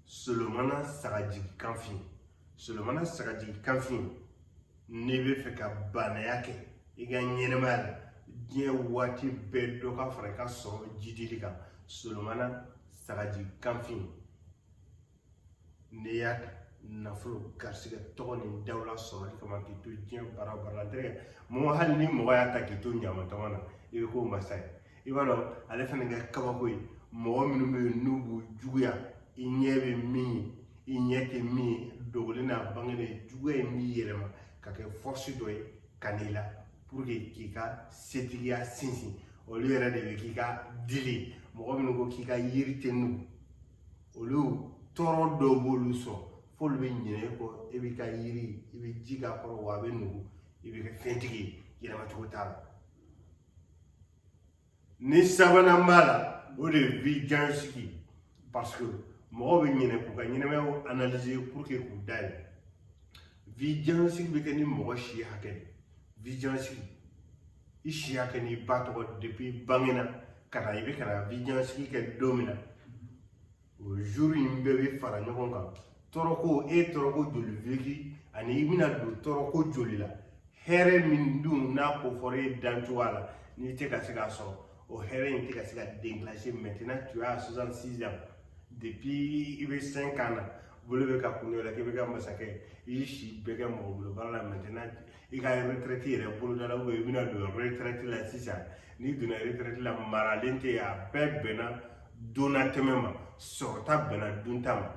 solomana sagajigi kanfin solomana sagajigi kanfin n'i b'a fɛ ka baanaya kɛ i ka ɲɛnamaya la diɲɛ waati bɛɛ dɔ ka fara i ka sɔrɔ jiidili kan solomana sagajigi kanfin n'i y'a ta nafolo garisigɛ tɔgɔ ni dawula sɔrɔli kama k'i to diɲɛ baara o baara la ntɛnɛ mɔgɔ hali ni mɔgɔ y'a ta k'i to ɲamatɔmɔ na i bɛ k'o masa ye i b'a dɔn ale fana ka kabako ye mɔgɔ minnu bɛ yen n'u b'u juguya i ɲɛ bɛ min ye i ɲɛ tɛ min ye dogolen n'a bangelen juguya in bɛ yɛlɛma ka kɛ force dɔ ye ka n'i la pour que k'i ka setigiya sinsin olu yɛrɛ de bɛ k'i ka dili mɔgɔ minnu ko k'i ka yiri tɛ nugu olu tɔɔrɔ dɔ b'olu sɔrɔ f'olu bɛ ɲinɛ e kɔ e b'i ka yiri i bɛ ji k'a kɔrɔ wa a bɛ nugu i bɛ kɛ fɛntigi ye yɛlɛma cogo t'a la ni sabanan b'a la o de ye vision sigi parce que mɔgɔw bɛ ɲinɛ k'u ka ɲɛnamayaw analyser pour que k'u dayɛlɛ vision sigi bɛ kɛ ni mɔgɔ si hakɛ de vision sigi i si hakɛ n'i ba tɔgɔ depuis bangena ka na i bɛ ka na vision sigi kɛ don min na o jour in bɛɛ bɛ fara ɲɔgɔn kan tɔɔrɔko e ye tɔɔrɔko joli vécu ani i bɛna don tɔɔrɔko joli la hɛrɛ min dun n'a ko fɔra e dan cogoya la n'i tɛ ka se k'a sɔrɔ o hɛrɛ in tɛ ka se ka déclencher maintenant tu as 66 ans depuis i bɛ 5 ans na bolo bɛ ka kun la k'i bɛ kɛ masakɛ i y'i si bɛɛ kɛ mɔgɔ bolo baara la maintenant i ka retraite yɛrɛ bolodala ou bien i bɛna don retraite la sisan n'i donna retraite la maralen tɛ yen a bɛɛ bɛnna donna tɛmɛ ma sɔrɔta bɛnna dunta ma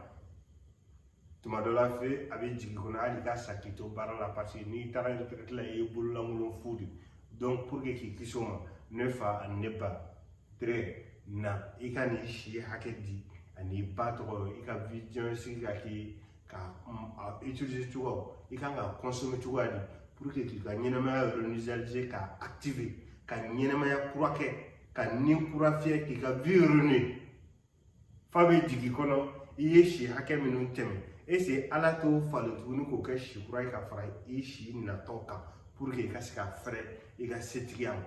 tuma dɔ la f'a bɛ jigin i kɔnɔ hali ka sa k'i to baara la parce que n'i taara retraite la i ye bololankolon fu de donc pour que k'i kisi o ma ne fa ani ne ba très na i ka n'i si hakɛ di an'i ba tɔgɔ i ka vision sigi ka k'i k'a utiliser cogo i kan k'a consommer cogoya di pour que k'i ka ɲɛnamaya réinitialiser k'a activer ka ɲɛnamaya kura kɛ ka ni kura fiyɛ k'i ka vie renouer f'a bɛ jigin i kɔnɔ i ye si hakɛ minnu tɛmɛ est-ce ala t'o falen tuguni k'o kɛ si kura ye ka fara i si natɔ kan pour que i ka se ka fɛrɛ i ka setigiya ma